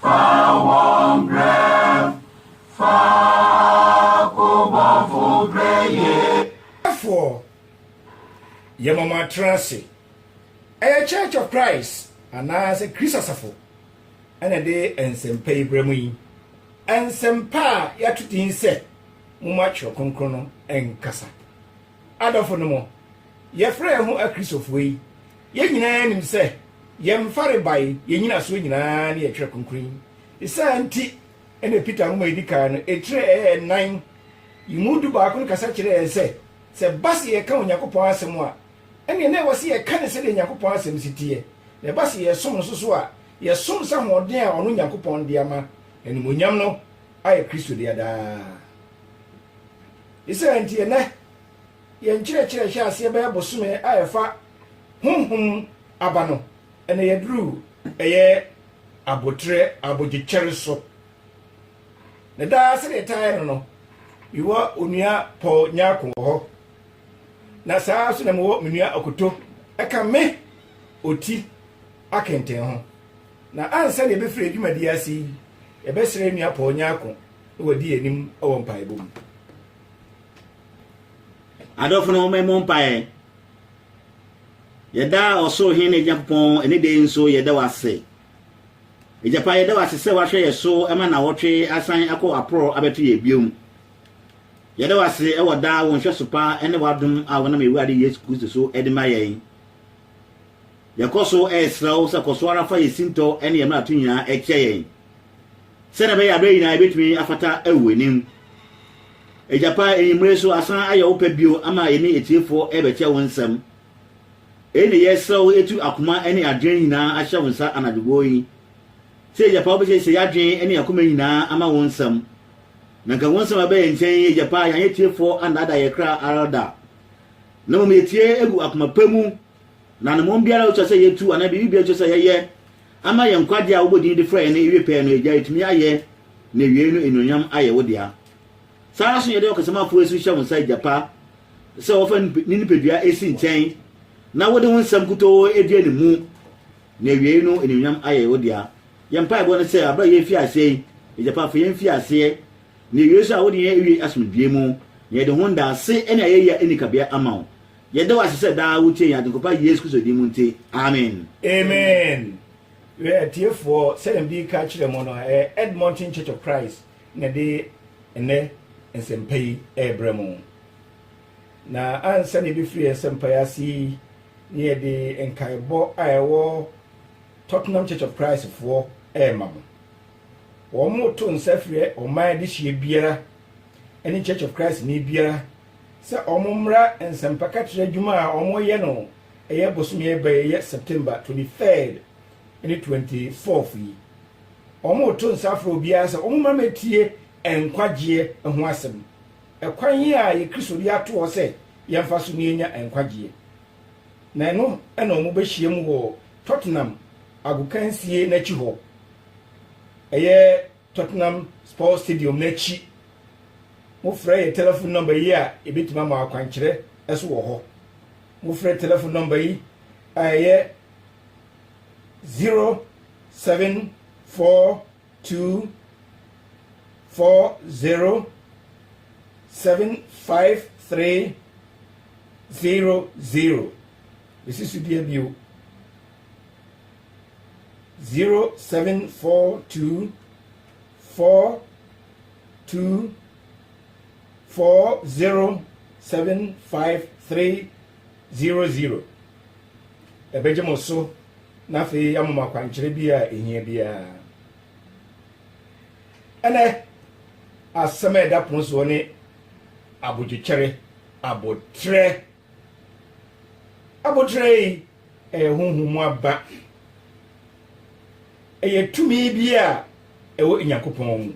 Fa wɔn brɛ, fa ko bɔfo brɛ yɛn. Foɔ. Yɛma mo atra ase. Ɛyɛ Church of Christ anaasɛ Kristo Asafo na ɛde nsɛmpa yi brɛ mo yi. Nsɛmpa a yɛato din sɛ Momma Twerɛ Kronkron no Nkasa. Adɔfonom, yɛfrɛ yɛn ho Akristofoɔ yi, yɛn nyinaa nim sɛ yɛn mfarebae, yɛn nyinasoɔ nyinaa ne yɛn Twerɛ Kronkron yi. Saa nti na Peter nwoma a ɛdi kan no, etire ɛyɛ nnan yi mu dubaako no kasa kyerɛ yɛn sɛ, sɛ ɛba sɛ yɛka Onyankopɔn asɛm a, ɛnneɛ na ɛwɔ sɛ yɛka no sɛdeɛ Onyankopɔn asɛm si teɛ, na ɛba sɛ yɛsom no nso so a, yɛsom sɛ ahoɔden a ɔno Onyankopɔn de ama n'animuonyam no. ayɛ Kristo dea daa. Ne saa nti, ɛnnɛ yɛn nkyerɛkyerɛ nhyɛaseɛ bɛyɛ bosome a ɛfa honhom aba no, ɛna yɛaduru ɛyɛ aboterɛ abogyekyɛre so. Na daa sɛdeɛ ɛtaa yɛ no no, mewɔ onua Paul Nyarko wɔ hɔ, na saa nso na mewɔ me nua Okoto ɛka me ɔti akɛntɛn ho. Na ansa na yɛbɛfiri yɛn dwumadie ase yi, yɛbɛsrɛ yɛn nua Paul Nyarko na wadi yɛn anim wɔ mpaebɔ mu. Adɔfo no, mommɛmmɔ mpaeɛ. Yɛda ɔsoro Hene Nyankopɔn ɛne dɛ nso yɛda wo ase. Agyapa yɛda wo ase sɛ woahwɛ yɛ so ma nawɔtwe asan akɔ aporɔ abɛto yɛ biom. Yɛda wo ase ɛwɔ daa wo nhwɛso pa ɛne w'adom a wonam Awurade Yesu Kristo so ɛde ma yɛn. Yɛkɔ so srɛ wo sɛ kɔ so ara fa yɛn sintɔ ne yɛn mmarato nyinaa kyɛ yɛn, sɛnea ɛbɛyɛ a bere nyinaa yebetumi afata wɔ w'anim. Agya pa, anwummere so asan ayɛ wo pɛ bio ama yɛne atiefo rebɛkyɛ wo nsɛm. Eyi na yɛsrɛ wo atu akoma ne adwene nyinaa ahyɛ wo nsa anadwo gow yi. Sɛ Agya pa wobesiesie yɛn adwene ne yɛn koma nyinaa ama wo nsɛm. Na anka wo nsɛm a ɛba yɛn nkyɛn yi, Agya pa, yɛanyɛ atiefo annaadaa yɛn kra ara da, na mmom yetie gu akoma pa mu Na ne mmɔm biara a ɛsɛ sɛ yetu anaa biribi biara a ɛsɛ sɛ yɛyɛ ama yɛn nkwagye a wobɔ din de frɛ yɛn no awie pɛɛ no, Agya, yetumi ayɛ, na awiei no anuonyam ayɛ wo dea. Saa ara nso na yɛde ɔkasamafo yi nso hyɛ wo nsa, agya pa, sɛ wɔfa ne nipadua si nkyɛn na wode wo nsɛm nkutoo di anim, na awiei no anuonyam ayɛ wo dea. Yɛn mpaebɔ ne sɛ, bere a yɛrefi aseɛ yi, agya pa, fa yɛn mfi aseɛ, na awiei nso a wode yɛn awie asomdwoeɛ mu, na yɛde ho ndaase ne ayɛyi a ɛnni kabea ama wo. Yɛda wo ase sɛ daa wotie yɛn Agyenkɔpa Yesu Kristo din mu nti, amen. Amen. Wɛ atiefoɔ, sɛdeɛ mede reka akyerɛ mo no, ɛyɛ Edmonton Church of Christ na ɛde ɛnɛ nsɛmpa yi rebrɛ mo. Na ansa na yɛbɛfiri yɛn nsɛmpa yi ase yi, ne yɛde nkaebɔ a ɛwɔ Tottenham Church of Christ foɔ rema mo. Wɔn to nsa frɛ ɔman adehyeɛ biara ne Church of Christ ni biara sɛ wɔmmra nsɛmpakakyerɛ adwuma a wɔreyɛ no ɛyɛ bosome ɛba yi ɛyɛ September 23rd ne 24th yi. Wɔreto nsa afrɛ obiara sɛ wɔmmra mmɛtie nkwagyeɛ ho asɛm. Ɛkwan yi a yɛ Kristo de ato hɔ sɛ yɛmfa so na yɛnya nkwagyeɛ. Na ɛno na wɔbɛhyiam wɔ Tottenham agokansie no akyi hɔ. Ɛyɛ. Tottenham Sports Stadium no akyi. Mofrɛ yɛn telefon nɔmba yi a, yebetumi ama akwankyerɛ nso wɔ hɔ. Mofrɛ telefon nɔmba yi a ɛyɛ 074240753000. Mesi so dua bio. zero seven four two four two four zero seven five three zero zero ɛbɛgye mo so na afei yɛama mo akwankyerɛ bi a ɛhia biara ɛnɛ asɛm a ɛda pono soɔ ne abodwokyɛre abotrɛ Aboterɛ yi yɛ honhom mu aba. Ɛyɛ tumi bi a ɛwɔ Onyankopɔn mu.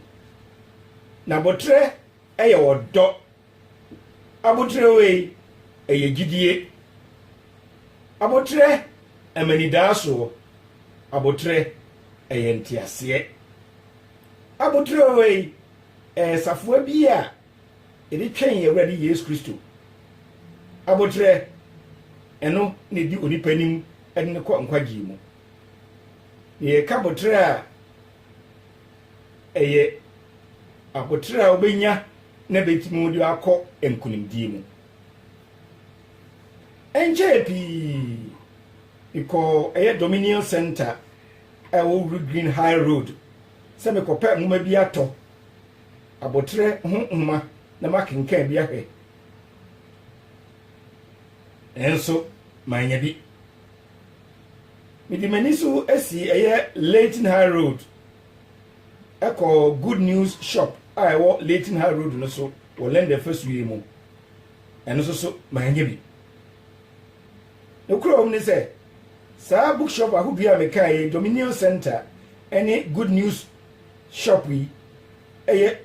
Na aboterɛ yɛ ɔdɔ. Aboterɛ wei yɛ gyidie. Aboterɛ ma anidaasoɔ. Aboterɛ yɛ nteaseɛ. Aboterɛ wei yɛ safoa bi a. Yɛde twɛn yɛn Awurade Yesu Kristo aboterɛ, ɛno na ɛdi onipa anim de no kɔ nkwagyeɛ mu. Na yɛka aboterɛ a, ɛyɛ aboterɛ a wobɛnya na bɛtumi wode akɔ nkonimdie mu. Ɛnkyɛɛ pii, mekɔɔ ɛyɛ Dominion Center a ɛwɔ Green High Road sɛ mekɔpɛ nwoma bi atɔ aboterɛ ho nwoma na makenkan bi ahwɛ, nanso mannya bi. Mede m'ani so sii ɛyɛ Leighton High Road ɛkɔ Good News Shop a ɛwɔ Leighton High Road no so wɔ Lɛndɛ fasuo yi mu. Ɛno nso so mannya bi. Nokorɛ wɔm ne sɛ, saa bookshop ahodoɔ a mekaeɛ, Dominion Center ne Good News Shop yi yɛ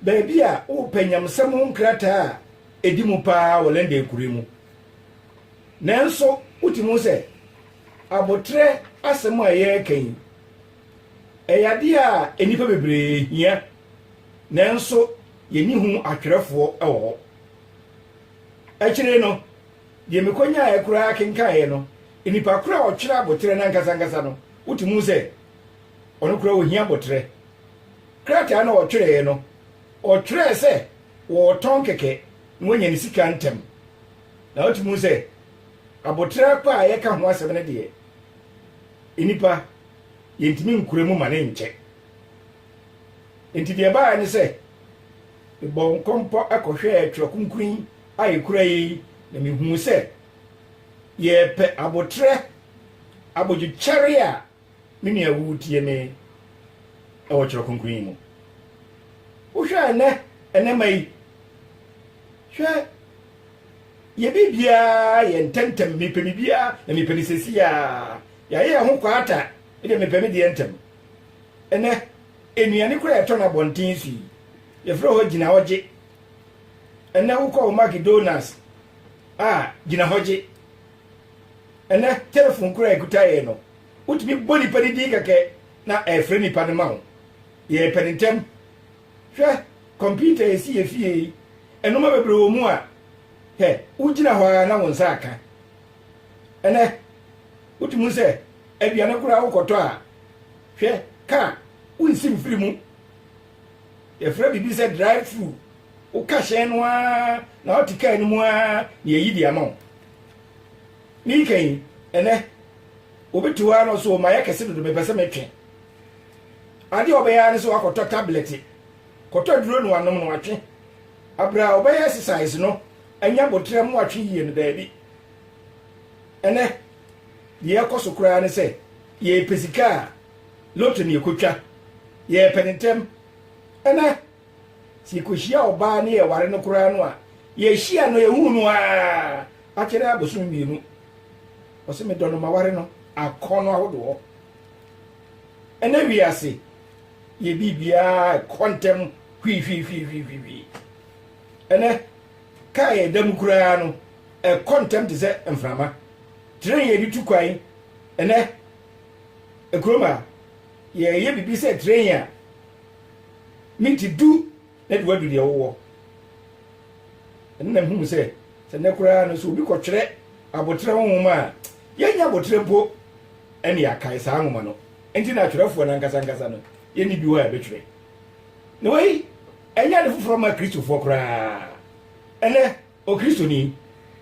baabi a wopɛ nyamsɛm ho nkrataa a edi mu paa wɔ London nkurow mu. Nanso wotumi hu sɛ abotrɛ asɛm a yɛreka yi, ɛyɛ ade a nnipa bebree hia, nanso yenni ho atwerɛfoɔ wɔ hɔ. Akyire no, deɛ mekonyaeɛ koraa kenkaeɛ no, nnipa korɔ a ɔtwerɛ abotrɛ no ankasa ankasa no, wotumi hu sɛ, Ɔno koraa ohia aboterɛ. Krataa no a ɔtwerɛeɛ no, ɔtwerɛɛ sɛ wɔretɔn kɛkɛ na wanya ne sika ntɛm. Na wotumi hu sɛ aboterɛ pa a yɛka ho asɛm no deɛ, nnipa yɛntumi nkura mu ma ne nkyɛ. Enti deɛ ɛbaeɛ ne sɛ, mebɔɔ nkɔmpɔ kɔhwɛɛ Twerɛ Kronkron a ɛkura yi na mehuu sɛ yɛrepɛ aboterɛ, abodwokyɛre a Me nua, wutie me wɔ Kyerɛw Kronkron yi mu? Wohwɛ a nnɛ, nnɛma yi, hwɛ, yɛ biribiara yɛ ntɛmntɛm, mepɛ biribiara na mepɛ no sɛsi a, yɛayɛ yɛn ho kwaata, ɛdeɛ mepɛ me deɛ ntɛm. Ɛnɛ, nnuane koraa yɛtɔ no abɔnten so yi, yɛfrɛ hɔ gyina hɔ gye. Ɛnɛ wokɔ wo McDonald's a, gyina hɔ gye. Ɛnnɛ, telefon koro a ɛkuta yɛn no, wotumi bɔ nnipa no din kɛkɛ na ɛrefrɛ nnipa no ma wo. Yɛrepɛ no ntɛm. Hwɛ kɔmputa a esi yɛn fie yi, nneɛma bebree wɔ mu a, hɛ, wugyina hɔ ara na wo nsa aka. Ɛnnɛ, wotumi hu sɛ aduane koraa wokɔtɔ a, hwɛ, kaa, wonsi mfiri mu. Yɛfrɛ biribi sɛ drive-through. Woka hyɛn no ara na wote kaa no mu ara na yɛayi de ama wo. Ne nka yi, ɛnɛ, obi te hɔ ara na ɔsɛ ɔma yɛ kɛse dodo mepɛ sɛ metwe. Adeɛ a ɔbɛyɛ ara ne sɛ wakɔtɔ tablɛte, kɔtɔ duro na wanom na watwe. Aberɛ a ɔbɛyɛ exercise no, ɛnyɛ aboterɛ mu atwe yie no, daabi. Ɛnɛ, deɛ ɛkɔ so koraa ne sɛ yɛpɛ sika a, lotto na yɛkɔtwa. Yɛpɛ no ntɛm. Ɛnɛ, Sɛ yɛkɔhyia ɔbaa ne yɛware no koraa no a, yɛhyia no yɛhu no ara akyɛrɛ abosom mmienu. Ɔse medɔ no maware no akɔnnɔ ahodoɔ. Ɛnɛ wiase yɛ biribiara ɛkɔ ntɛm hwihwihwihwihwi. Ɛnɛ kaa yɛda mu koraa no ɛkɔ ntɛm te sɛ mframa. Tren yɛde tu kwan ɛnɛ ɛkurom a yɛyɛ biribi sɛ tren a Me nti du na de wadu deɛ wowɔ. Ɛno na mehunu sɛ sɛ nnɛ koraa no sɛ obi kɔtwerɛ aboterɛ ho nwoma a, yɛnnya aboterɛ mpo ne yɛakae saa nwoma no. Nti na atwerɛfoɔ no ankasa ankasa no yɛnni bi hɔ a yɛbɛtwerɛ. Na wei ɛnyɛ ade foforɔ ma Kristofoɔ koraa ɛnnɛ. Okristoni,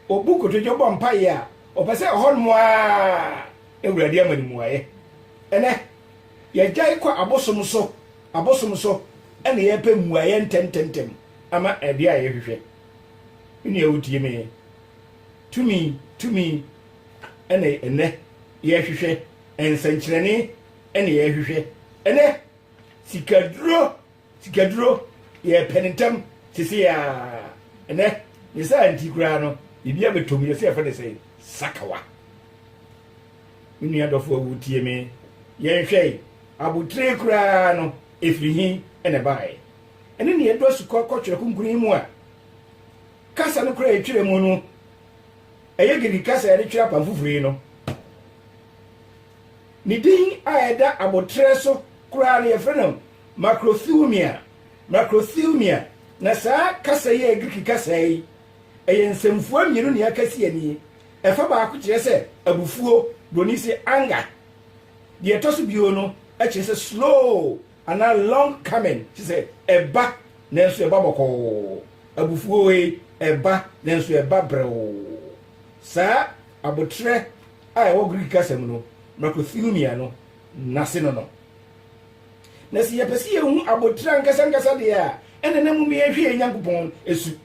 obu kotodwe bɔ mpaeɛ a, ɔpɛ sɛ ɛhɔnom ara Awurade ama no muaeɛ. Ɛnɛ, yɛgyae kɔ abosom so abosom so na yɛpɛ mmuaeɛ ntɛmntɛmntɛm ama adeɛ a yɛhwehwɛ. Me nua wotie me, tumi tumi na ɛnɛ yɛhwehwɛ, nsɛnkyerɛnne na yɛhwehwɛ ɛnɛ, sikaduro Sikaduro yɛɛ pɛ no ntɛm sesei ara. Ɛnnɛ, ne saa nti koraa no, biribi abɛtɔ mu, yɛse yɛfrɛ no sɛn? Sakawa. Me nua dɔfo a wotie me, yɛnhwɛ yi, abotire koraa no, ɛfiri he na ɛbaeɛ? Ɛne nea ɛdu asukɔ kɔ twerɛ kronkron yi mu a kasa no koraa ɛtwerɛ mu no, ɛyɛ Giriki kasa a yɛde twerɛ Apam Foforo yi no. Ne din a ɛda abotire so koraa no, yɛfrɛ no Macrothumia, Macrothumia, na saa kasa yi yɛ Greek kasa yi, ɛyɛ nsɛmfua mmienu ne akasi ani. Ɛfa baako kyerɛ sɛ abufuo, Buroni se anger. Deɛ ɛtɔ so bio no kyerɛ sɛ slow anaa long coming, kyerɛ sɛ ɛba nanso ɛba bɔkɔɔ. Abufuo wei ɛba nanso ɛba brɛoo. Saa aboterɛ a ɛwɔ Greek kasa mu no, Macrothumia no, n'ase no no. Na sɛ yɛpɛ sɛ yɛhu abotire ankasankasa deɛ a, ɛnna na mmom yɛhwɛ yɛn Nyankopɔn su.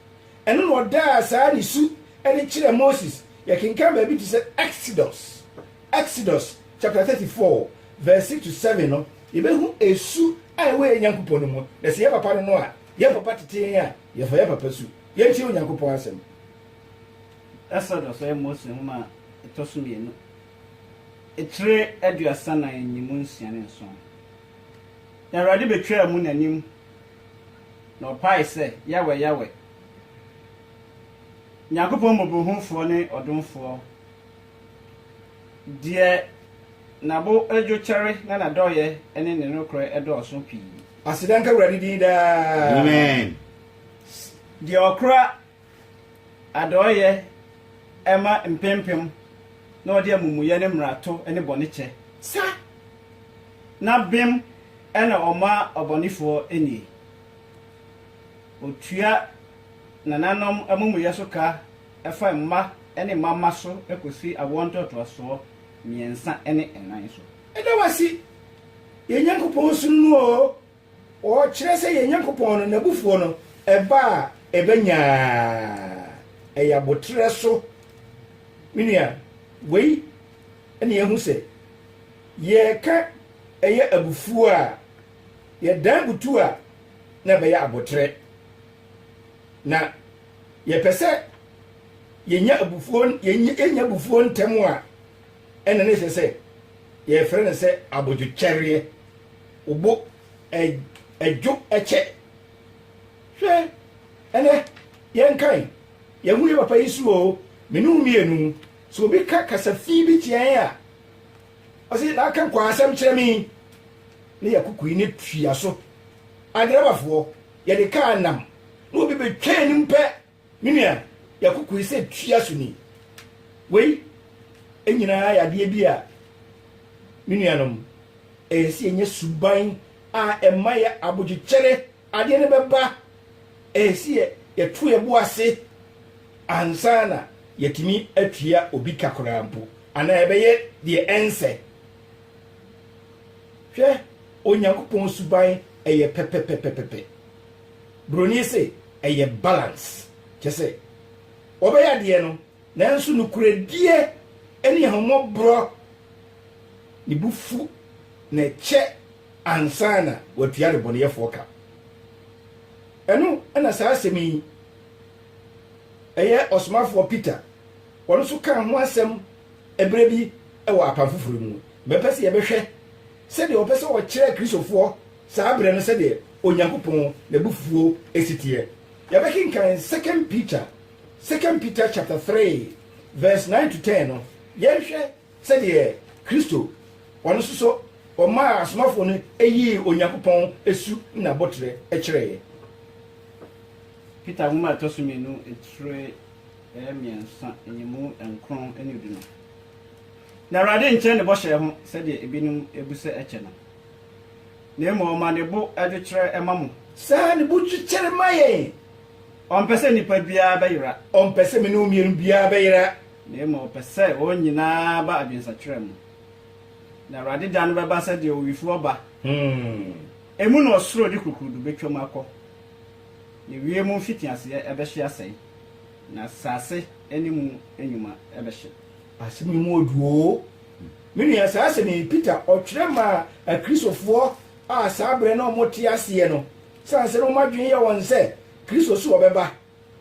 Ɛno na ɔdaa saa ne su adi kyerɛɛ Moses. Yɛkenkan baabi te sɛ Exodus, Exodus chapter 34 verse 6 to 7 no, yɛbɛhu su a ɛwɔ yɛn Nyankopɔn no mu. Na sɛ yɛn papa no no a, yɛn papa tete yɛn a, yɛfa yɛn papa su. Yɛntie Onyankopɔn asɛm. Exodus yɛ Mose nwoma a ɛtɔ so mmienu Akyire aduasa nan ne mu nsia ne nson, na Awurade bɛtwaa mu n'anim, na ɔpaee sɛ, Yawɛ, Yawɛ, Nyankopɔn mmɔborɔhunufoɔ ne ɔdomfoɔ, deɛ n'abo dwo kyɛre na n'adɔeɛ ne ne nokorɛ dɔɔso pii. Aseda nka Awurade din daa. Amen. Deɛ ɔkora Adɔeyɛ ma mpempem na ɔde amumuyɛ ne mmarato ne bɔne kyɛ. Sa! Na bem na ɔma ɔbɔnefoɔ nie. Ɔtua nananom amumuyɛ so ka fa mma ne mmamma so kɔsi awoɔ ntoatoasoɔ mmiɛnsa ne nnan so. Yɛda wo ase, yɛn Nyankopɔn, suro no oo. Ɔkyerɛ sɛ yɛn Nyankopɔn no, n'abufuo no, ɛba a, ɛba nyaa. Ɛyɛ aboterɛ so. Me nua, wei na yɛahu sɛ, yɛreka ɛyɛ abufuo a, yɛdan butu a, na ɛbɛyɛ aboterɛ. Na yɛpɛ sɛ yɛnya abufuo, yɛnya abufuo ntɛm a, Ɛna ne sɛ sɛ yɛfrɛ no sɛ abodwokyɛreɛ wobo ɛdwo ɛkyɛ hwɛ ɛnɛ yɛnkan yɛhu yɛ papa yi so o me ne mmienu so obi ka kasafii bi kyeɛn a ɔse na aka nkɔ asɛm kyerɛ me ne yɛkokui ne tua so adrabafoɔ yɛde kaa nam na obi bɛtwaa anim pɛ Me nua, yɛakokoe sɛ tua so ni. Wei nyinaa yɛ adeɛ bi a, me nuanom, ɛyɛ sɛ yɛnya suban a ɛma yɛ abodwokyɛre adeɛ no bɛba. Ɛyɛ sɛ yɛ yɛto yɛ bo ase ansa na yɛatumi atua obi ka koraa mpo, anaa yɛbɛyɛ deɛ ɛnsɛ. Hwɛ Onyankopɔn suban, ɛyɛ pɛpɛpɛpɛpɛ. Broni se ɛyɛ balance, kyɛsɛ wɔbɛyɛ adeɛ no nanso nokorɛdie ɛne ahummɔborɔ ne bo fu na ɛkyɛ ansa na watua adebɔneyɛfoɔ ka. Ɛno na saa asɛm yi ɛyɛ Ɔsomafoɔ Peter ɔno nso kaa ho asɛm ɛberɛ bi ɛwɔ Apam Foforɔ mu no. Mɛpɛ sɛ yɛbɛhwɛ sɛdeɛ ɔpɛ sɛ ɔkyerɛ Akristofoɔ Saa berɛ no sɛdeɛ Onyankopɔn n'abufuo si teɛ. Yɛbɛkenkan Second Peter Second Peter chapter 3 verse 9 to 10 no, yɛnhwɛ sɛdeɛ Kristo, ɔno nso so ɔmaa asomafoɔ no yii Onyankopɔn su ne n'aboterɛ kyerɛeɛ. Peter nwoma a ɛtɔ so mmienu tire mmiɛnsa nyimu nkron ne du no. Na Awurade nkyɛ ne bɔhyɛ ho sɛdeɛ ebinom bu sɛ ɛkyɛ no. Na mmom ɔma ne bo dwokyerɛ ma mo. Saa ne bo dwokyɛre ma yɛn. Ɔmpɛ sɛ nipa biara bɛyera. Ɔmpɛ sɛ me ne wo mmienu biara bɛyera. Na mmom ɔpɛ sɛ wɔn nyinaa ba adwensakyera mu. Na Awurade da no bɛba sɛdeɛ owifoɔ ba. Emu na ɔsoro de kurukurudo bɛtwam akɔ, na wiem mfitiaseɛ bɛhye asɛe, na asase ne mu nnwuma bɛhye. Asɛm yi mu ɔdwo oo. Me nua, saa asɛm yi, Peter, ɔtwerɛ maa Akristofoɔ a saa berɛ no wɔte aseɛ no, ɛsiane sɛ na wɔn adwene yɛ wɔn sɛ Kristo so ɔbɛba,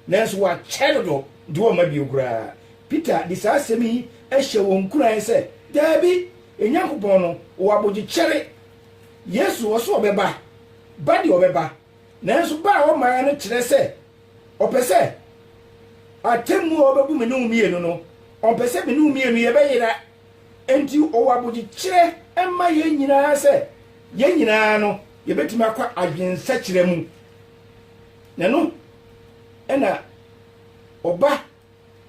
nanso wakyɛ dodo de wɔn ma bio koraa. Peter de saa asɛm yi hyɛɛ wɔn nkuran sɛ, Daabi, Onyankopɔn no, ɔwɔ abogyekyɛre. Yesu, ɔso ɔbɛba, ba deɛ ɔbɛba, nanso ba a ɔmaeɛ no kyerɛ sɛ, Ɔpɛ sɛ atemmu a ɔbɛbu me ne wo mmienu no, ɔmpɛ sɛ me ne wo mmienu yɛbɛyera. Enti ɔwɔ abodwokyerɛ ma yɛn nyinaa sɛ yɛn nyinaa no, yɛbɛtumi akɔ adwensakyera mu. Na ɛno na ɔba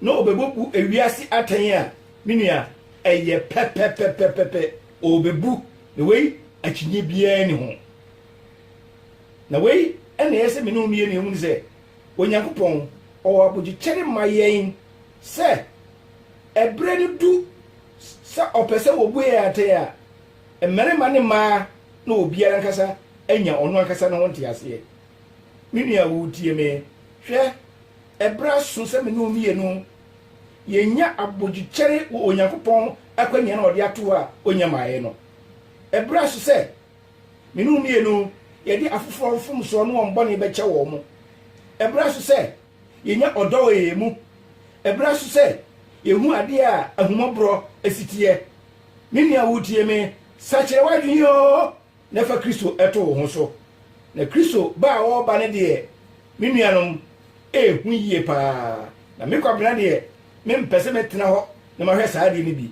na ɔbɛbɔbu ewiase atɛn a, me nua, ɛyɛ pɛpɛpɛpɛpɛ, ɔrebɛbu, na wei akyinnye biara nni ho. Na wei na ɛyɛ sɛ me ne wo mmienu yɛhunu sɛ Onyankopɔn ɔwɔ abodwokyɛre ma yɛn sɛ ɛberɛ no du sɛ ɔpɛ sɛ wɔbu yɛn atɛn a, mmarima ne mmaa na obiara ankasa anya ɔno ankasa ne ho nteaseɛ. Me nua woretie me? Hwɛ! Bere aso sɛ me ne wo mmienu yɛnya abodwokyɛre wɔ Onyankopɔn akwannya no a ɔde ato hɔ a ɔnya maeɛ no. Bere aso sɛ me ne wo mmienu yɛde afoforɔ mfomsoɔ ne wɔn bɔne bɛkyɛ wɔn. Bere aso sɛ yɛnya ɔdɔ wɔ yɛn mu. Bere aso sɛ yɛhu adeɛ a ahummɔborɔ si teɛ. Me nua a woretie me, sakyera w'adwene oo! na fa Kristo to wo ho so. Na Kristo ba a ɔreba no deɛ, me nuanom, ɛyɛ hu yie pa ara. Na me Kwabena deɛ, mempɛ sɛ mɛtena hɔ na mahwɛ saa adeɛ no bi.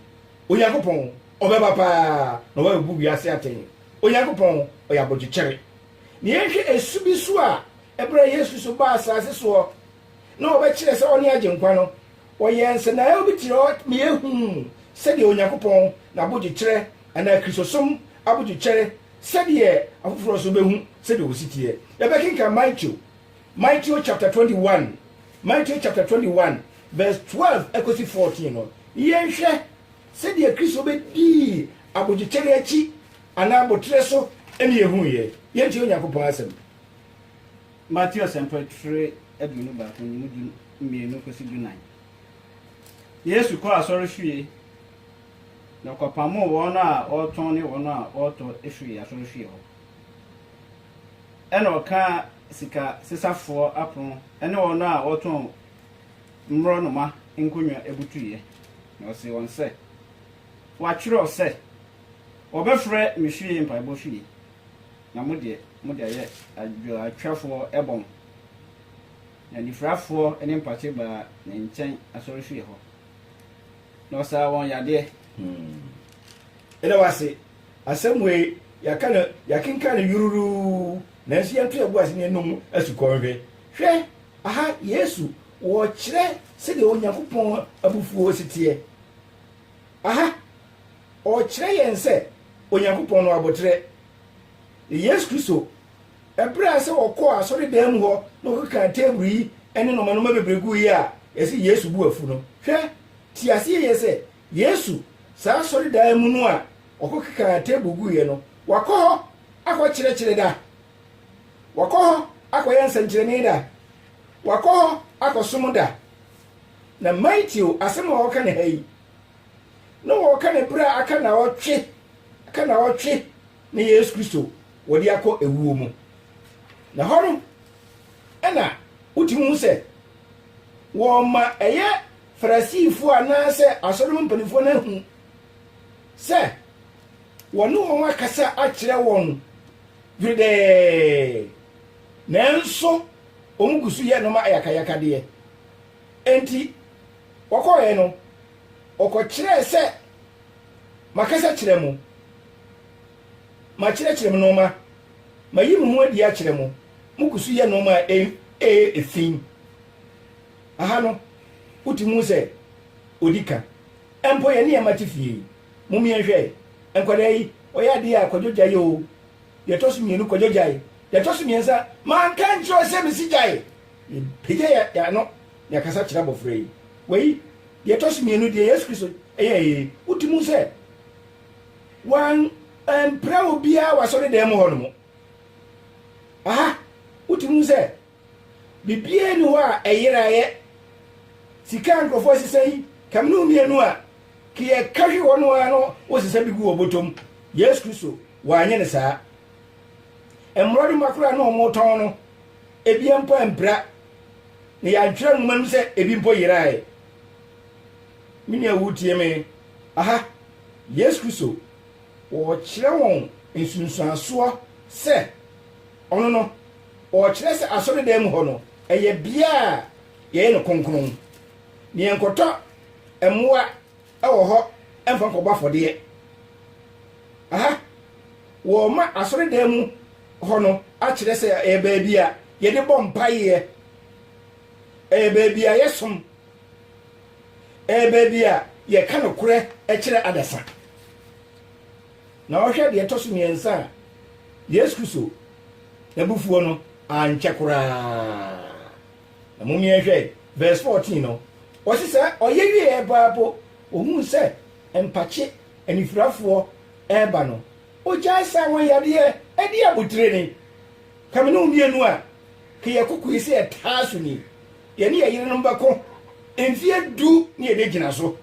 Onyankopɔn, ɔbɛba pa ara na wabɛbu wiase atɛn. Onyankopɔn, ɔyɛ abodwokyɛre. Na yɛnhwɛ ɛsu bi nso a, ɛberɛ a Yesu Kristo baa asaase soɔ, na ɔbɛkyerɛ sɛ ɔne Agyenkwa no, Wɔyɛɛ nsɛnaaew bi tserɛw ma yehun sɛdeɛ Onyankopɔn n'abodwokyerɛ anaa Kristosom abodwokyɛr sɛdeɛ afoforɔ nso bɛhu sɛdeɛ wɔsi teɛ. Yɛbɛkenkan Mateo, Mateo chapter twenty one, Mateo chapter twenty one verse twelve ɛkɔsi fourteen no, na yɛnhwɛ sɛdeɛ Kristo bɛdii abodwokyɛr akyi anaa aboterɛ so na yɛhuiɛ. Yɛntie Onyankopɔn asɛm. Mateo Asɛmpa tire aduonu baako no mu du mmienu kɔsi du nan. Yesu kɔɔ asɔre fie na ɔkɔpamoo wɔn a wɔretɔn ne wɔn a wɔretɔ firii asɔre fie hɔ. Ɛna ɔkaa sika sesafoɔ apono ne wɔn a wɔtɔn mmorɔnoma nkonnwa butuiɛ, na ɔsee wɔn sɛ, Wɔatwerɛ sɛ, Wɔbɛfrɛ me fie mpaebɔ fie. na mo deɛ, mode ayɛ adwowtwafoɔ bɔn. Na anifirafoɔ ne mpakye baa ne nkyɛn asɔrefie hɔ, na ɔsaa wɔn yadeɛ. Ɛda wo ase, asɛm wei, yɛaka no, yɛakenkan no yururuu, nanso yɛnto yɛn bo ase na yɛnnom asukɔ nhwɛ. Hwɛ! Aha, Yesu, ɔrekyerɛ sɛdeɛ Onyankopɔn abufuo si teɛ. Aha, ɔrekyerɛ yɛn sɛ Onyankopɔn no aboterɛ ne Yesu Kristo, bere a sɛ wɔkɔɔ asɔredan mu hɔ na wɔkekaa teeburu yi ne nnomanoma bebree guu yi a, ɛsɛ Yesu bu afu no. Hwɛ, te ase yiye sɛ, Yesu, saa asɔredan mu no a ɔkɔkekaa teeburu guiɛ no, wakɔ hɔ akɔkyerɛkyerɛ da, wakɔ hɔ akɔyɛ nsɛnkyerɛnne da, wakɔ hɔ akɔsom da. Na Mateo asɛm a ɔka no ha yi, na wɔka ne berɛ a aka naɔtwe aka naɔtwe ne Yesu Kristo wɔde akɔ ewuo mu. Na hɔ no ɛna wotumi hu sɛ wɔma ɛyɛ Farisifoɔ anaasɛ asɔre mu mpanimfoɔ no ahu sɛ wɔne wɔn akasa akyerɛ wɔn dweredɛɛ nanso wɔn gu so yɛ nneɛma ayakayakadeɛ. Enti wɔkɔɔɛ no, ɔkɔkyerɛɛ sɛ, Makasa kyerɛ mo, makyerɛkyerɛ mo nnoɔma, mayi me ho adi akyerɛ mo, moguso yɛ nnoɔma a ɛyɛ fi. Aha no, wotumi hu sɛ ɔdi ka. Mpo yɛne yɛn mma te fie yi, mom yɛnhwɛ nkwadaa yi, wɔyɛ adeɛ a, Kwadwo gyae oo, deɛ ɛtɔ so mmienu, Kwadwo gyae, deɛ ɛtɔ so mmiɛnsa, manka nkyerɛ wo sɛ mesi gyae? Yɛpagya yɛn ano na yɛkasa kyerɛ abɔfra yi. Wei, deɛ ɛtɔ so mmienu, deɛ Yesu Kristo yɛeɛ yi, wodi mu sɛ wampira obiara wɔ asɔredan mu hɔnom. Aha, wodi mu sɛ biribiara ni hɔ a ɛyeraeɛ. Sika a nkurɔfoɔ asesa yi, kamene mmienu a ka yɛka hwe hɔ no ara no wosesa bi gu wɔ bɔtɔ mu. Yesu Kristo, wanyɛ no saa. Mmorɔdoma koraa na wɔtɔn no. ebi mpo ampira, na yɛantwerɛ nwoma no mu sɛ ebi mpo yeraeɛ. Me nua woretie me? Aha, Yesu Kristo, ɔrekyerɛ wɔn nsunsuansoɔ sɛ ɔno no, ɔrekyerɛ sɛ asɔredan mu hɔ no, ɛyɛ bea a yɛyɛ no kronkron, na yɛnkɔtɔ mmoa wɔ hɔ mfa nkɔbɔ afɔdeɛ. Aha, wɔma asɔredan mu hɔ no akyerɛ sɛ ɛyɛ baabi a yɛde bɔ mpaeɛ, ɛyɛ baabi a yɛsom, ɛyɛ baabi a yɛka nokorɛ kyerɛ adasa. Na ɔhwɛ deɛ ɛtɔ so mmiɛnsa a, Yesu Kristo n'abufuo no ankyɛ koraa. Na mom yɛnhwɛ verse 14 no, ɔse sɛ ɔyɛ wieɛ paa mpo, ohuu sɛ mpakye, anifirafoɔ, ɛɛba no, ogyae saa wɔn yadeɛ ɛde abotire no. Ka me ne wo mmienu a, ka yɛ kokoe sɛ yɛtaa so ni, yɛne yɛ yerenom bɛko mfeɛ du ne yɛbɛgyina so.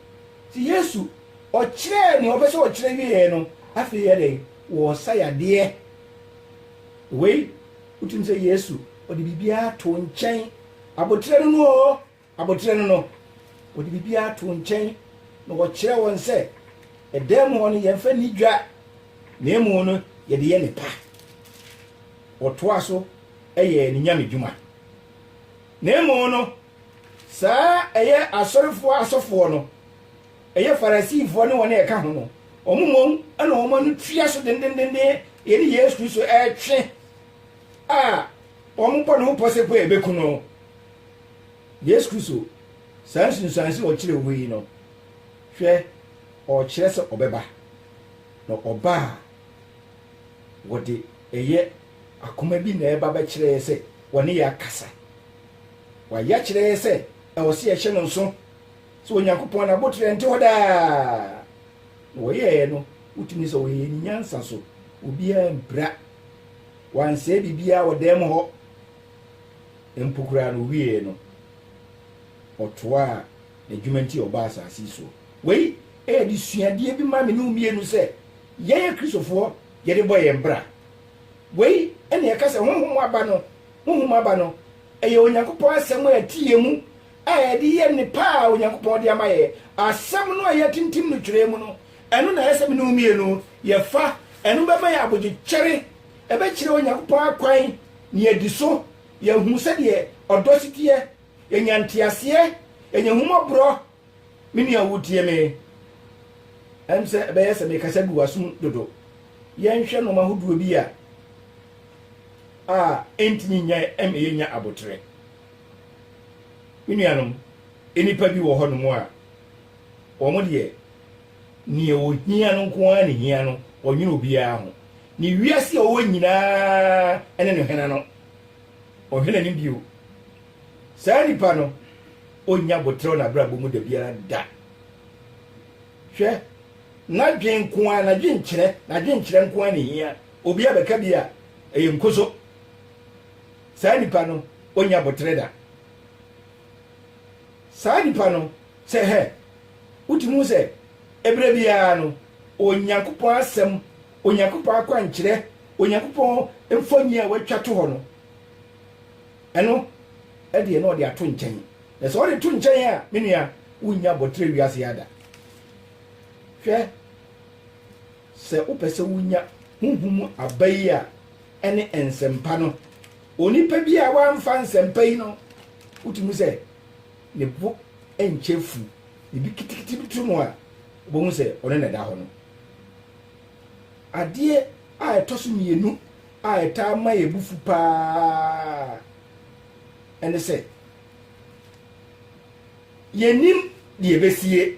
Nti Yesu ɔkyerɛɛ nea ɔpɛ sɛ ɔkyerɛ wieɛ no, afei yɛ dɛn? Wɔɔsa yadeɛ. Wei. Wotumi sɛ Yesu, ɔde biribiara to nkyɛn. Aboterɛ no no o, aboterɛ no no, ɔde biribiara to nkyɛn na wɔkyerɛ wɔn sɛ ɛdan mu hɔ no yɛmfa ni dwa, na emu no yɛde yɛ ne pa. Wɔtoa so yɛ ne nyame dwuma. Na emu no, saa ɛyɛ asɔrefoɔ asɔfoɔ no Ɛyɛ Farisifoɔ ne wɔn a ɛka ho no, wɔn mmom na wɔn ano tua so dendendendenn yɛne Yesu Kristo retwe a wɔbɔ ne ho pɔ sɛ po a ɛbɛku no. Yesu Kristo, saa nsunsuanso a ɔkyerɛ wɔ yi no, hwɛ, ɔrekyerɛ sɛ ɔbɛba, na ɔba a wɔde ɛyɛ akoma bi na ɛba bɛkyerɛ yɛ sɛ wɔne yɛ akasa. Wɔayɛ akyerɛ yɛ sɛ ɛwɔ sɛ yɛhyɛ no nso. sɛ Onyankopɔn n'aboterɛ nte hɔ daa, na wɔyɛɛ no wotumi sɛ wɔyɛɛ no nyansa so, obiara mpira, wɔansɛe biribiara wɔ dan mu hɔ mpo koraa na ɔwieɛ no ɔtoaa n'adwuma nti ɔbaa asase yi soɔ. Wei ɛyɛ de suadeɛ bi ma me ne wo mmienu sɛ yɛn akristofoɔ yɛde bɔ yɛn bra. Wei ɛne ɛka sɛ honhom aba no, honhom aba no ɛyɛ Onyankopɔn asɛm a ɛte yɛn mu a yɛde yɛ nnepa a Onyankopɔn de ama yɛn, asɛm no a yɛatintim no twerɛ mu no, ɛno na ɛyɛ sɛ me ne wo mmienu yɛfa. Ɛno bɛma yɛn abodwokyɛre, ɛbɛkyerɛ yɛn Onyankopɔn akwan na yɛadi so, yɛahunu sɛdeɛ ɔdɔ si teɛ, yɛanya nteaseɛ, yɛanya ahummɔborɔ. Me nua a wotie me, ɛm sɛ ɛbɛyɛ sɛ mekasa gu w'asom dodo. Yɛnhwɛ nnoɔma ahodoɔ bi a a ɛntumi nyɛe ɛma yɛnya aboterɛ. Me nuanom, nnipa bi wɔ hɔnom a, wɔn deɛ, nea wɔhia no nko ara na hia no, wɔnnwene obiara ho. Ne wiase a ɔwɔ nyinaa ne no hena no, ɔhwɛ n'anim bio. Saa nipa no, ɔnnya aboterɛ n'abrabɔ mu da biara da. Hwɛ, n'adwene nko ara, n'adwenkyerɛ, n'adwenkyerɛ nko ara na hia. Obi abɛka bi a, ɛyɛ nkoso. saa nipa no ɔnya boterɛ da. Saa nipa no sɛ hɛ, wotumi hu sɛ ɛberɛ biara no Onyankopɔn asɛm, Onyankopɔn akwankyerɛ, Onyankopɔn mfoni a watwa to hɔ no, ɛno ɛdeɛ na ɔde ato nkyɛn. Na sɛ ɔde to nkyɛn a, me nua, wonnya boterɛ wiase ya da. Hwɛ, sɛ wopɛ sɛ wonya honhom mu aba yi a, ne nsɛmpa no. Onipa bi a wamfa nsɛmpa yi no, wotumi sɛ ne bo nkyɛ fu, biribi kitikiti bi to no a, wobɛhu sɛ ɔne na ɛda hɔ no. Adeɛ a ɛtɔ so mmienu a ɛtaa ma yɛ bo fu paa ɛne sɛ yɛnim deɛ ɛbɛsie,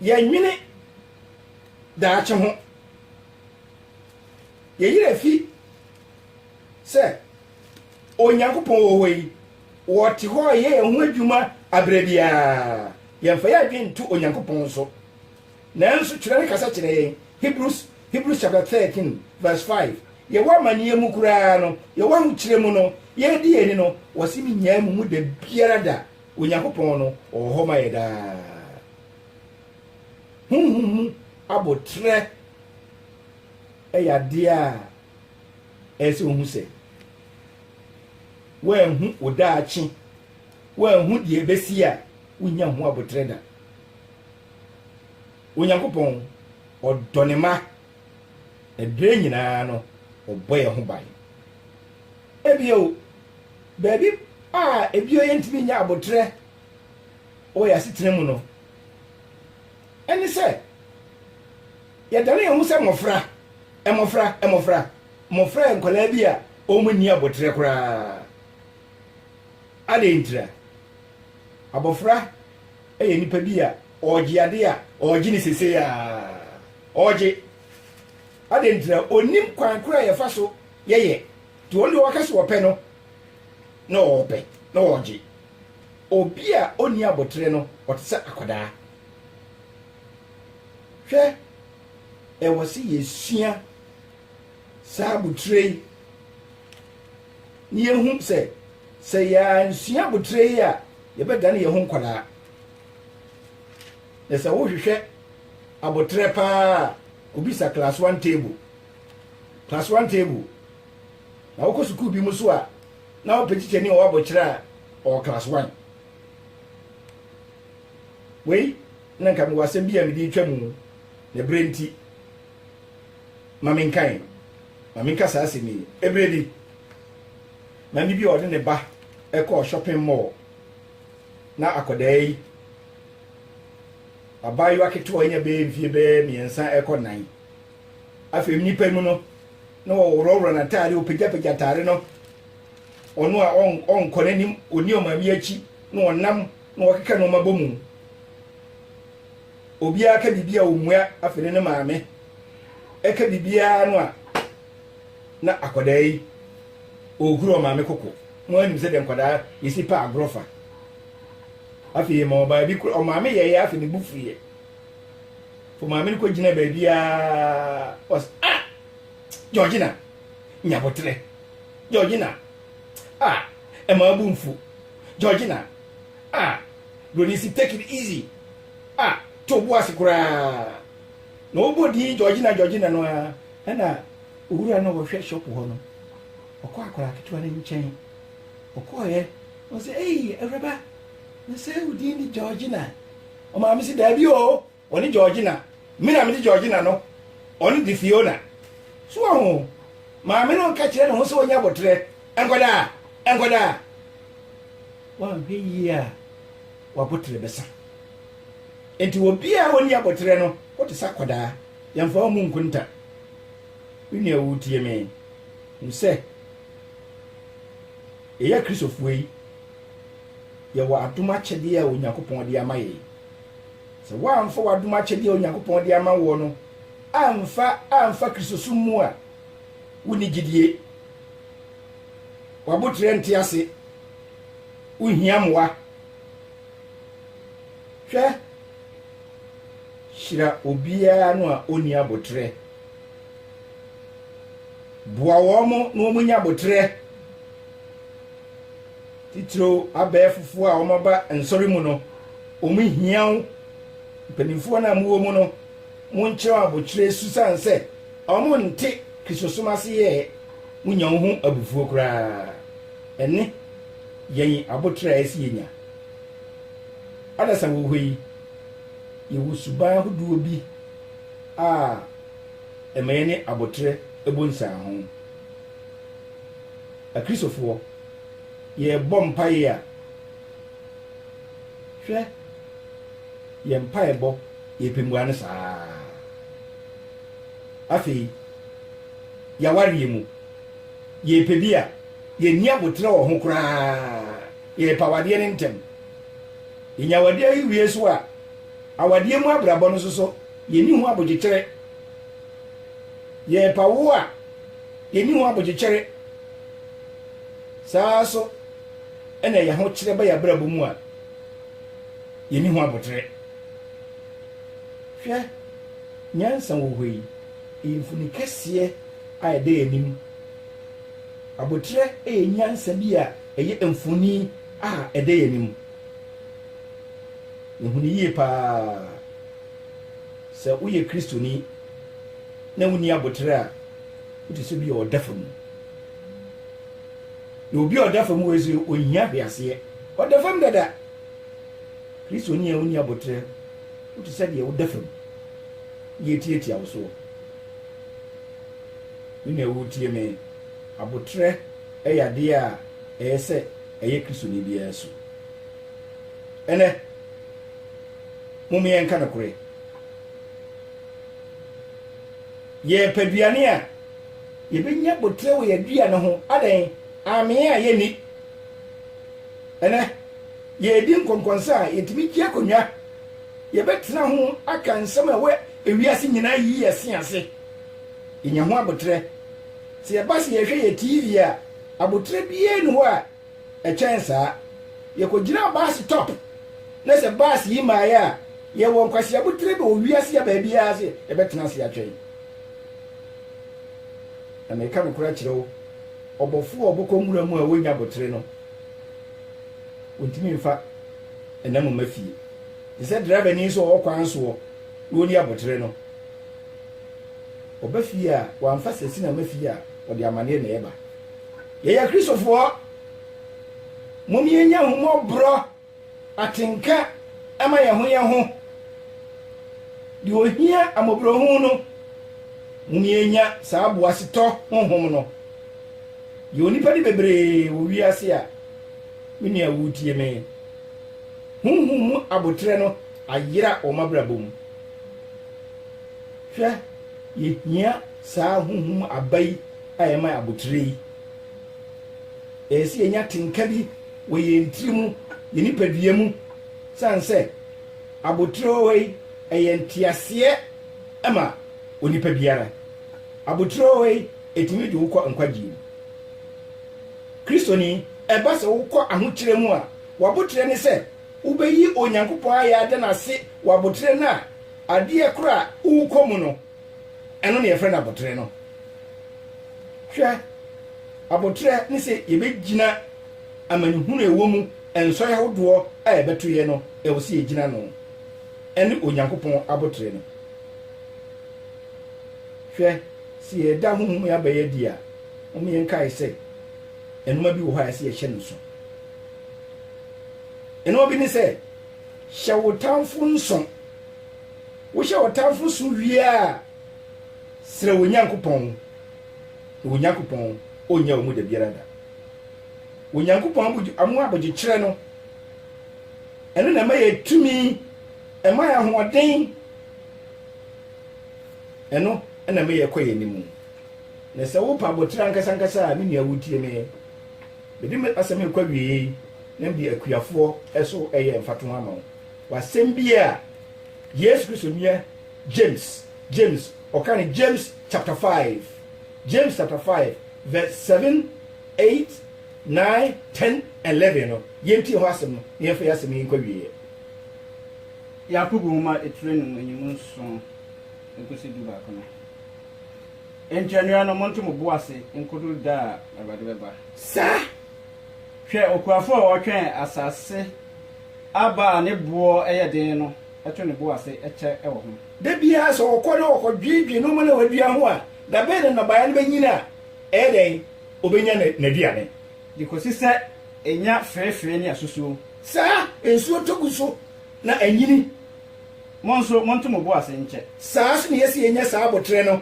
yɛnwene daakye ho. Yɛn werɛ fi sɛ Onyankopɔn wɔ hɔ yi, ɔte hɔ yɛ yɛn ho adwuma aberɛ biara. Yɛmfa yɛn adwene nto Onyankopɔn so. Nanso twerɛ no kasa kyerɛ yɛn, Hebrews, Hebrews chapter 13 verse 5, yɛwɔ amaneɛ mu koraa no, yɛwɔ ahokyerɛ mu no, yɛredi yɛn ani no, wɔse menyaa mu mu da biara da, Onyankopɔn no ɔwɔ hɔ ma yɛ daa. Honhom mu aboterɛ yɛ adeɛ a ɛyɛ sɛ wohu sɛ woanhu wo daakye, woanhu deɛ ɛbɛsi a wonya ho aboterɛ da. Onyankopɔn ɔdɔ ne ma, ɛberɛ nyinaa no ɔbɔ yɛ ho ban. Ebio, baabi a ebio yɛntumi nya aboterɛ wɔ yɛn asetena mu no, ɛne sɛ yɛdane yɛn ho sɛ mmɔfra, mmɔfra, mmɔfra. Mmɔfra yɛ nkwadaa bi a wɔn ani abɔterɛ koraa. Adɛn ntira? Abɔfra yɛ nipa bi a ɔregye ade a ɔregye ne sese a ɔregye. Adɛn ntira? Onim kwan koro a yɛfa so yɛyɛ. Nti wɔn deɛ wɔka so wɔpɛ no na wɔpɛ na wɔregye. Obi a onni abotere no, ɔte sɛ akwadaa. Hwɛ, ɛwɔ sɛ yesua saa abotire yi, na yehu sɛ, sɛ yɛansua abotire yi a, yɛbɛdane yɛn ho nkwadaa. Na sɛ wohwehwɛ abotere paa a, kobisa class one table, class one table. Na wokɔ sukuu bi mu so a, Na wopɛ tikyani a ɔwɔ abokyerɛ a ɔwɔ class one. Wei na nka mewɔ asɛm bi a mede retwa mu na berɛ nti ma menkan ma menka saa asɛm yi. Ɛberɛ bi maame bi a ɔde ne ba ɛkɔɔ shopping mall na akɔdaa yi abaayewa ketewa anya bɛyɛ mfie bɛyɛ mmiɛnsa ɛkɔ nan Afei nnipa mu no, na wɔworɔworɔ n'atade, wɔpagyapagya atade no. Ɔno a ɔnkɔ n'anim, ɔni ɔman bi akyi, na ɔnam na wɔkeka nneɛma bɔ mu. Obiara ka biribi a ɔmmua, afei ne ne maame ɛka biribiara no a na akwadaa yi ɔhuru ɔmaame koko na wanim sɛ deɛ nkwadaa yɛsi pa agorɔ fa. Afei ma ɔbaa bi koro ɔmaame yɛeɛ afei ne bu fuiɛ. fo maame no kɔ gyina baabi a ɔs ah georgina nyabotrɛ georgina ah ɛma abu mfu georgina ah broni si take it easy ah to bo ase koraa na ɔbɔ din georgina georgina no a ɛna owura no ɔhwɛ shop hɔ no ɔkɔ akwaraa ketewa no nkyɛn ɔkɔɔyɛ ɔsɛ ei awuraba na sɛ wo din de georgina Ɔmaa me se daabi oo, ɔne Georgina, me na mede Georgina no, ɔno de Fiona. So wahu? Maame no nka kyerɛ ne ho sɛ ɔnyɛ aboterɛ, nkwadaa, nkwadaa. Wanhwɛ yie a, w'aboterɛ bɛsa. Enti obiara a ɔnni aboterɛ no, wote sɛ akwadaa. Yɛmfa wɔn mu nkonta. Me nua woretie me? Hu sɛ, yɛyɛ Akristofoɔ yi, Yɛwɔ adom akyɛdeɛ a Onyankopɔn de ama yɛn. Sɛ woamfa w'adom akyɛdeɛ a Onyankopɔn de ama woɔ no amfa amfa Kristosom mu a, wonni gyidie. W'aboterɛ nte ase. Wohia mmoa. Hwɛ, hyira obiara no a ɔnni aboterɛ. Boa wɔn na wɔnya aboterɛ. Titiriw abɛɛfofo a wɔaba nsɔre mu no, wɔhia wo. Mpanyimfo a na mowɔ mu no, monkyerɛw abokyerɛ su san sɛ wɔnte Kristosom ase yɛ ɛ. Munnya wo ho abufuo koraa. Ɛne yɛn aboterɛ a ɛsɛ yenya. Adasa wɔ hɔ yi, yɛwɔ suban ahodoɔ bi a ɛma yɛne aboterɛ bɔ nsianho. Akristofoɔ, yɛrebɔ mpaeɛ a, hwɛ, yɛn mpaebɔ, yɛn pɛ mua ne saa ara. Afei, yɛawareɛ mu, yɛrepɛ bi a, yɛnni aboterɛ wɔ ho koraa, yɛrepɛ awadeɛ no ntɛm. Yɛnya awadeɛ yi wie so a, awadeɛ mu abrabɔ no nso so, yɛnni ho abodwokyerɛ. Yɛrepɛ awoɔ a, Yɛnni ho abodwokyɛre. Saa ara nso na yɛn ahokyerɛ ba yɛn abrabɔ mu a, yɛnni ho abotere. Hwɛ nyansa wɔ hɔ yi. Ɛyɛ mfoni kɛseɛ a ɛda yɛn anim. Abotere yɛ nyansa bi a ɛyɛ mfoni a ɛda yɛn anim. Yɛhu no yie paa sɛ woyɛ Kristoni. na wonni abotire a, wote sɛ bi a ɔda fam. Na obi a ɔda fam wei sɛ ohia hwe aseɛ. Ɔda fam dada. Kristoni a wonni abotire, wote sɛ deɛ woda fam. Yɛ tiatia wo soɔ. Me nua wotie me, abotire ɛyɛ adeɛ a ɛyɛ sɛ ɛyɛ Kristoni biara su. Ɛnɛ, mom yɛnka nokorɛ. Yɛpɛ aduane a, yɛbɛnya boterɛ wɔ yɛn aduane ho. Adɛn? Amee a yɛnni. Ɛnɛ, yɛredi nkɔnkɔnsa a, yɛtumi gye akonnwa. Yɛbɛtena ho aka nsɛm a ɛwɔ ewiase nyinaa yi yɛn se ase. Yɛnya ho aboterɛ. Sɛ yɛba sɛ yɛrehwɛ yɛn TV a, aboterɛ biara nni hɔ a Ɛkyɛn saa, yɛkɔgyinaa baase tɔp, na sɛ baase yi mmaeɛ a, yɛwɔ nkwaseabu tiri bɛ wɔ wiase a baabiara sɛ yɛbɛtena ase atwɛn. Na mereka nokorɛ akyerɛ wo, ɔbɔfoɔ a ɔbɔkɔ nwura mu a ɔnnya abotere no, wɔntumi mfa ɛnam mma fie, te sɛ drɛbani nso a ɔwɔ kwan soɔ na ɔnni abotere no. Ɔba fie a, wamfa sasina mma fie a, ɔde amaneɛ na ɛba. Yɛyɛ Kristofoɔ, mom yɛnya ahummɔborɔ, atenka ma yɛn ho yɛn ho, deɛ ɔhia amɔborɔhunu no, mom yɛnya saa boasetɔ honhom no. Yɛwɔ nnipa de bebree wɔ wiase a, me nua woretie me, honhom mu aboterɛ no ayera wɔn abrabɔ mu. Hwɛ, yɛhia saa honhom mu aba yi. a ɛma abotire yi, ɛyɛ sɛ yɛnya tenka bi wɔ yɛn tiri mu, yɛn nipadua mu, sane sɛ abotire wɔ hɔ yi, ɛyɛ nteaseɛ ma onipa biara. Abotire wɔ hɔ yi, ɛtumi de wokɔ nkwagyeɛ mu. Kristoni, ɛba sɛ wokɔ ahokyerɛ mu a, w'aboterɛ ne sɛ wobɛyi Onyankopɔn ayɛ ada no ase wɔ aboterɛ no a adeɛ korɔ a worekɔ mu no Ɛno na yɛfrɛ no aboterɛ no. Hwɛ, aboterɛ ne sɛ yɛbɛgyina amanehunu ɛwɔ mu, nsɔe ahodoɔ a ɛbɛto yɛ no, ɛwɔ sɛ yɛgyina no. Ɛne Onyankopɔn aboterɛ no. Hwɛ, sɛ yɛda honhom mu aba yi adi a, mom yɛnkae sɛ ɛnoma bi wɔ hɔ a ɛsɛ yɛhyɛ no nso. Ɛnoma bi ne sɛ, hyɛ wo tamfo nso. Wohyɛ w'atamfo so wie a, srɛ wo Nyankopɔn, na Onyankopɔn onnya wo mu da biara da. Onyankopɔn mu abodwokyerɛ no, ɛno na ɛma yɛ tumi, ɛma yɛ ahoɔden, ɛno na ɛma yɛkɔ yɛn anim. Na sɛ wopa abotire ankasa ankasa a, me nua wotie me. Mede asɛm yi kɔ awiei na mede akuafoɔ so ɛyɛ mfatoho ama wo. Wɔ asɛm bi a Yesu Kristo nua James, James, ɔka no James chapter five, James chapter five verse seven, eight, nine, ten, and eleven no, yɛntie ho asɛm no na yɛmfa yɛn asɛm yi nkɔ awieeɛ. Yakobo nwoma etire no mu enyim nson nkosi dubaako no. Enti anuanom, monto mo bo ase nkodu da a Awurade bɛba. Saa. Hwɛ okuafo a ɔtwɛn asase aba a ne boɔ yɛ den no to ne bo ase kyɛ wɔ ho. Da biara sɛ ɔkɔ na ɔkɔdwiedwie nnoɔma no a wadua ho a, da bɛn na nnɔbaeɛ no bɛnyini a ɛyɛ dɛn? Ɔbɛnya n'aduane. De kɔsi sɛ ɛnya feefee ne asusuo. Saa nsuo tɔ gu so na anyini. Mo nso, monto mo bo ase nkyɛ. Saa nso na yɛsi yɛnya saa aboterɛ no.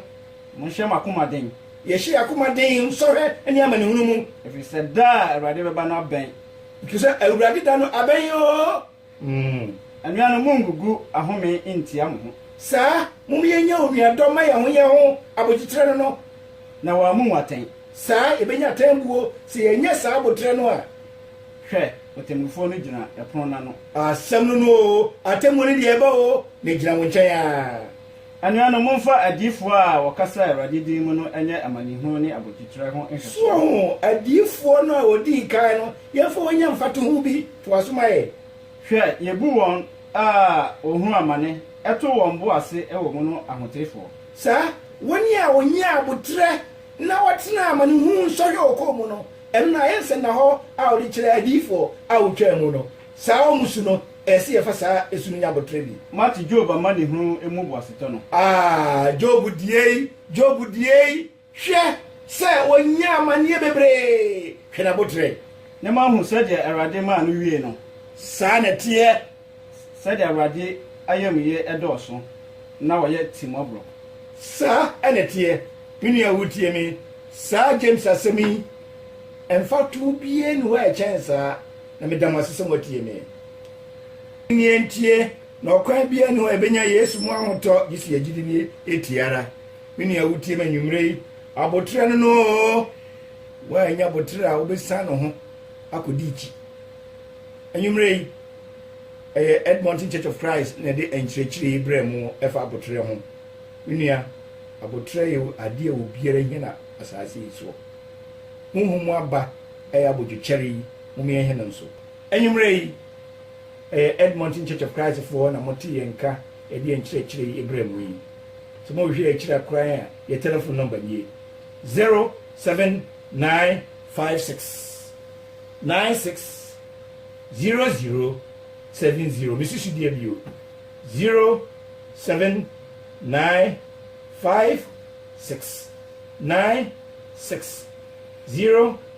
Monhyɛ mo akoma den. Yɛhyɛ yɛn akoma den sɔhwɛ ne amanehunu mu. Ɛfiri sɛ da a Awurade bɛba no abɛn. Ɛfiri sɛ Awurade da no abɛn oo. Anuanom, monngugu ahome nntia mo ho. Saa, mom yɛnyɛ onuadɔ mma yɛn ho yɛn ho, aboteterɛ no no. Na wɔammu mo atɛn. Saa, yɛbɛnya atɛnbuo sɛ yɛanyɛ saa aboterɛ no a. Hwɛ, ɔtemmufoɔ no gyina ɛpono no ano. Asɛm no no oo, atɛnbuo no deɛ ɛba oo, na ɛgyina wo nkyɛn ara. Anuanom, momfa adiyifoɔ a wɔkasa Awurade din mu no nyɛ amanehunu ne abodwokyerɛ ho nhwɛsoɔ. So adiyifoɔ no a wɔdii kan no, yɛmfa wɔn nyɛ mfatoho bi? Toa so ma yɛn. Hwɛ, yɛbu wɔn a wɔhunu amane, ɛto wɔn bo ase wɔ mu no ahotefoɔ. Saa, wɔn a wɔnyaa aboterɛ na wɔtenaa amanehunu nsɔhwɛ ɔkɔm mu no, ɛno na ayɛ nsɛnnahɔ a wɔde kyerɛ adiyifoɔ a wɔtwaa mu no. Saa wɔn mu su no, ɛyɛ sɛ yɛfa saa su no nya aboterɛ bi. Moate Job amanehunu mu boasetɔ no? Aah, Job diei, Job diei, hwɛ sɛ ɔnyaa amaneɛ bebree, hwɛ n'aboterɛ. Ne moahu sɛdeɛ Awurade maa no wiee no? Saa na ɛteɛ. Sɛdeɛ Awurade ayamyɛ dɔɔso na ɔyɛ timmɔborɔ. Saa na ɛteɛ. Me nua wotie me, saa James asɛm yi, mfatoho biara nni hɔ a ɛkyɛn saa. na meda mo ase sɛ moatie me. Ɛnneɛ ɛnteɛ na ɔkwan biara nni hɔ a yɛbɛnya Yesu mu ahotɔ gye sɛ yɛgyidi no ɛtie ara. Me nua wotie me anwummerɛ yi, aboterɛ no no oo, woannya aboterɛ a wobɛsan no ho akɔdi akyi. Anwummerɛ yi, ɛyɛ Edmonton Church of Christ na ɛde nkyerɛkyerɛ yi berɛ mo ɛfa aboterɛ ho. Me nua, aboterɛ yɛ adeɛ a obiara hia na asase yi soɔ. Honhom mu aba ɛyɛ abodwokyɛre yi. Mom yɛnhɛ no nso. Anwummerɛ yi, ɛyɛ Edmonton Church of Christ foɔ na mote yɛn nka ɛde yɛn nkyerɛkyerɛ yi brɛ mo yi. Sɛ mo hwehwɛ yɛn akyiri a koraa a, yɛn telephone number nie, zero seven nine five six nine six zero zero seven zero. Me susu deɛ bio, zero seven nine five six nine six zero.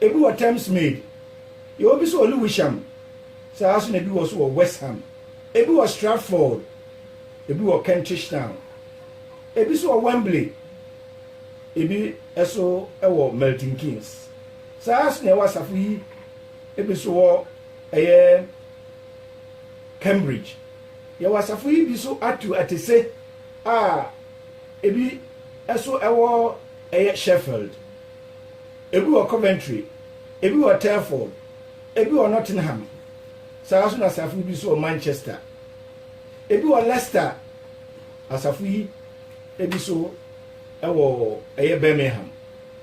Ebi wɔ Thamesmead, yɛwɔ bi nso wɔ Lewisham, saa ara nso na ebi wɔ nso wɔ West Ham, ebi wɔ Stratford, ebi wɔ Kentish Town, ebi nso wɔ Wembley, ebi nso wɔ Milton Keynes. Saa ara nso na ɛwɔ asafo yi ebi nso wɔ ɛyɛ Cambridge. Yɛwɔ asafo yi bi nso ato atese a ebi nso wɔ ɛyɛ Sheffield. ebi wɔ Coventry, ebi wɔ Telford, ebi wɔ Nottingham, saa ara nso na asafo no bi nso wɔ Manchester, ebi wɔ Leicester, asafo yi ebi nso wɔ ɛyɛ Birmingham.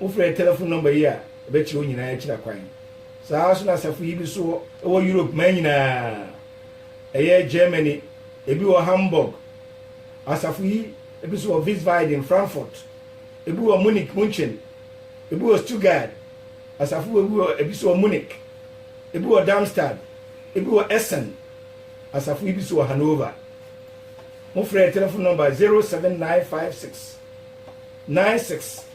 Wofrɛ yɛ telefon nɔmba yi a, ɛbɛkyerɛ wo nyinaa akyira kwan. Saa ara nso na asafo yi bi nso wɔ ɛwɔ Europe man nyinaa, ɛyɛ Germany, ebi wɔ Hamburg, asafo yi ebi nso wɔ Wiesbaden, Frankfurt, ebi wɔ Munich, München, ebi wɔ Stuttgart, asafo wɔ ebi wɔ ebi so wɔ Munich, ebi wɔ Darmstadt, ebi wɔ Essen, asafo ebi so wɔ Hanover. Mo frɛ telephone number 07956 96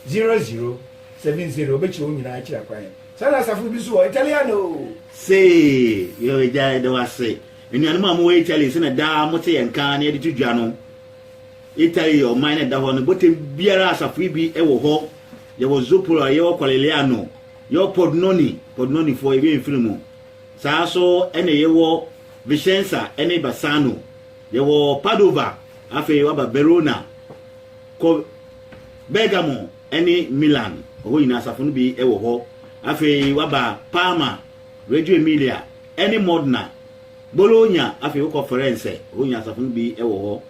0070 obekyerɛ wo nyinaa akyerɛ kwan. Saa na asafo bi so wɔ Italiano. Sei, yɛ agya yɛde wase. Nnuanom a mowɔ Italy sɛ na daa mote yɛn nka na yɛde to dwa no. Italy yɛ ɔman na ɛda hɔ no bɔtɛm biara asafoe bi wɔ hɔ. Yɛwɔ Zopora, yɛwɔ Conegliano, yɛwɔ Pordenone, Pordenonefo, yɛwɔ Mfiri mu. Saa ara nso na yɛwɔ Vicenza ne Bassano. Yɛwɔ Padova, afei woaba Verona, kɔ Bergamo ne Milan, ɛhɔ nyinaa asafo no bi wɔ hɔ. Afei woaba Parma, Reggio Emilia ne Modena, Bologna, afei wokɔ Firenze, ɛhɔ nyinaa asafo no bi wɔ hɔ.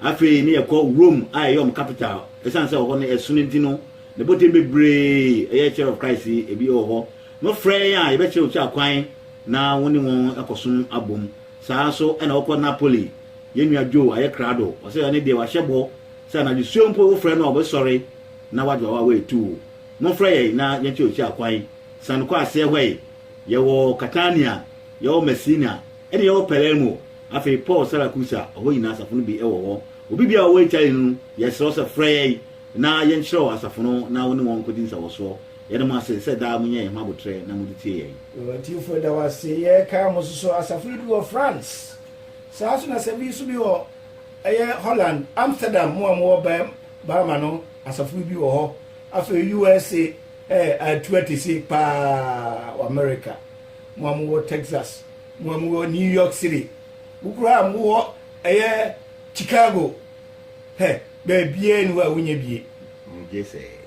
Afei ne yɛkɔ Rome a ɛyɛ wɔn capital. Ɛsiane sɛ ɛhɔ no yɛ sono nti no, ne boten bebree ɛyɛ Church of Christ yi, ebi wɔ hɔ, no frɛ yɛn a yɛbɛkyerɛ wo kyerɛ kwan na wo ne wɔn akɔsom abom. Saa ara nso na wɔkɔ Napoli. Yɛn nua Joe ayɛ krado. Ɔsɛ ɛno deɛ wahyɛ bɔ sɛ anadwo suo mpo wofrɛ no a ɔbɛsɔre na wagye w'awa away to wo. Momfrɛ yɛn na yɛnkyerɛ wo kyerɛ kwan. San kɔ aseɛ hɔ yi, yɛwɔ Catania, yɛwɔ Messina, Ɛnna yɛwɔ Palermo. Afei Paul Saracusa, ɔhɔ nyinaa asafo no bi wɔ hɔ. Obi biara a ɔwɔ Italy no, yɛsrɛ wo sɛ frɛ yɛn na yɛnkyerɛ wo asafo no na wo ne wɔn nkodi nsawɔsoɔ. Yɛda mo ase sɛ daa monya yɛn ho aboterɛ na mode tie yɛn. Yɛn atiefo da wo ase. Yɛrekae mo nso sɛ asafo no bi wɔ France. Saa ara nso na sɛ bi nso bi wɔ ɛyɛ Holland, Amsterdam, mo a mowɔ Bam, Bama no, asafo no bi wɔ hɔ. Afei USA, ɛɛ, atu ate se paa wɔ Amerika. mo a mowɔ Texas, mo a mowɔ New York City, mo koraa a mowɔ ɛyɛ Chicago, hɛ, baabiara ni hɔ a wonya bie.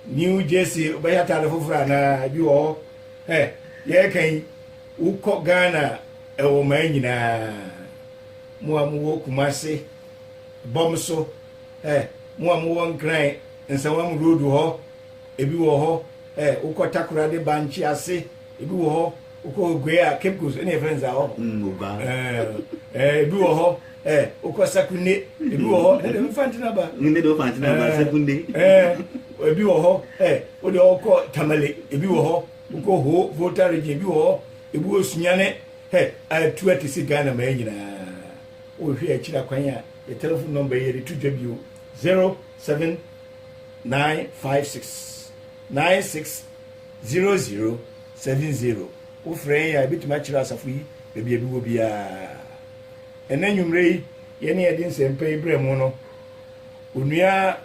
New Jersey, wobɛyɛ ataade foforɔ anaa ebi wɔ hɔ. Hɛ, yɛreka yi, wokɔ Ghana ɛwɔ maa nyinaa. Mo a mowɔ Kumase, bɔm so, hɛ, mo a mowɔ Nkran, Nsawam Road hɔ, ebi wɔ hɔ, hɛ, wokɔ Takoradi Bankye ase, Ebi wɔ hɔ wokɔ Oguaa a Cape Coast ɛna yɛfrɛ no saa hɔ. Mm, Oguaa. Ɛɛ ɛɛ ebi wɔ hɔ ɛɛ wokɔ Sakunde ebi wɔ hɔ ɛna deɛ Fanti na ba. Ne deɛ Fanti na ba Sakunde. Ɛɛ ebi wɔ hɔ ɛɛ o deɛ wokɔ Tamale ebi wɔ hɔ wokɔ Ho Volta region ebi wɔ hɔ ebi wɔ Sunyane ɛ atu ate si Ghana mɛɛ nyinaa wohwɛ akyiri akwan a yɛ telephone number yɛ de to dwa bio zero seven nine five six. Nine six zero zero seven zero Wo frɛ yɛn a, yɛbɛtumi akyerɛ asafo yi baabi a ebi wɔ biara. Ɛnnɛ anwummere yi, yɛne yɛde nsɛmpa yi brɛ mo no, Onua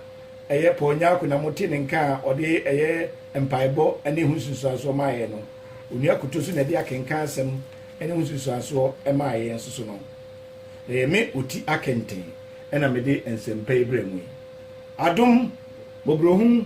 ɛyɛ Paul Nyarko na mote ne nka a ɔde ɛyɛ mpaebɔ ne ɛho nsunsuansoɔ maa yɛn no. Onua Kuto nso na ɛde akenkan asɛm ne ho nsunsuansoɔ maa yɛn nso so no. Na ɛyɛ me Oti Akenten na mede nsɛmpa yi brɛ mo yi. Adom, mmɔborɔhunu,